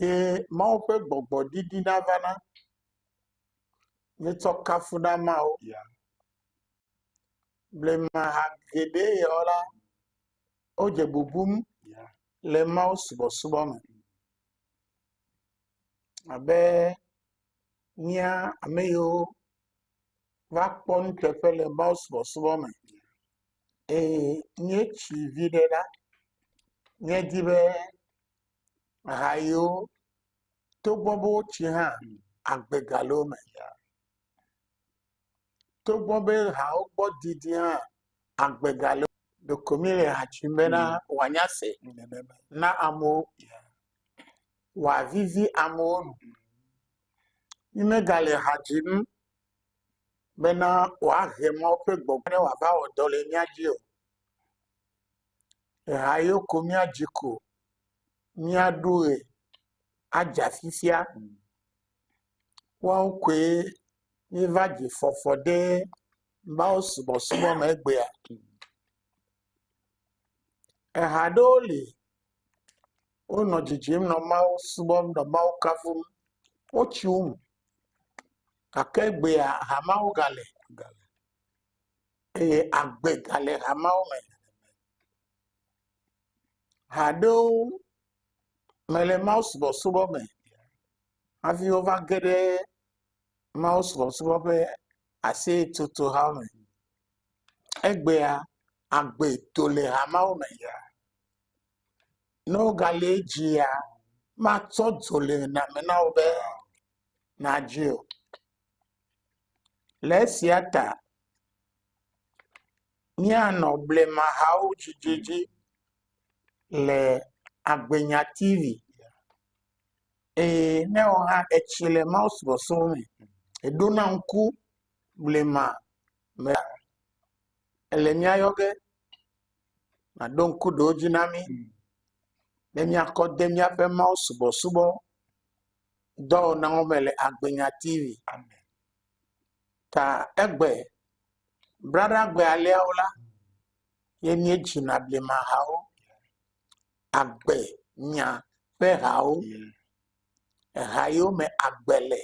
Eye Mawu ƒe gbɔgbɔ ɖiɖi nava na míetsɔ kafu na Mawu ya. Blema ha geɖe yewo la, wodze bubum le Mawu subɔsubɔ me abe mía ame yiwo va kpɔ nuteƒe le Mawu subɔsubɔ me eye míetsi vi ɖe la, míedi be. ha yiwo togbɔ be wotsi hã agbe gale wo me. Togbɔ be hawo gbɔ didi hã agbe gale wo me. Ɖeko mi le ha tsim be na woanya se na amewo woavivi amewo nu. Mi me gale ha tsim be na woahe Mawu ƒe gbɔgbɔ ne woava wɔ dɔ le mia dzi o. Eha yewo ko míadzi ko míaɖu ʋe adze afifia. Woawo koe míeva dzi fɔfɔ ɖe mawusubɔsubɔ me egbea. Eha aɖewo li wonɔ dzidzim nɔ Mawu subɔm nɔ Mawu kafum. Wotsi wo me gake egbea ha mawo gale. eye agbe gale hameawo me. Ha aɖewo mele mawusubɔsubɔ me hafi wova ge ɖe mawusubɔsubɔ ƒe aseyetsotoha me. Egbea agbe to le hameawo me ya ne wogale edzia matsɔ dzo le name na wo be nadzoe o. Le esia ta míanɔ blemahawo dzidzi dzi le Agbenyanya TV eye ne wɔ hã etsi le mawusubɔsubɔ me eɖona ŋku blema me ele mía yɔ ge naɖo ŋku ɖewo dzi na mí be míakɔ de míaƒe mawusubɔsubɔ. dɔ na wo me le agbenya TV ta egbe braɖa gbe aliawo la ye mie dzina blema hawo agbe nya ƒe hawo eha yiwo me agbe le.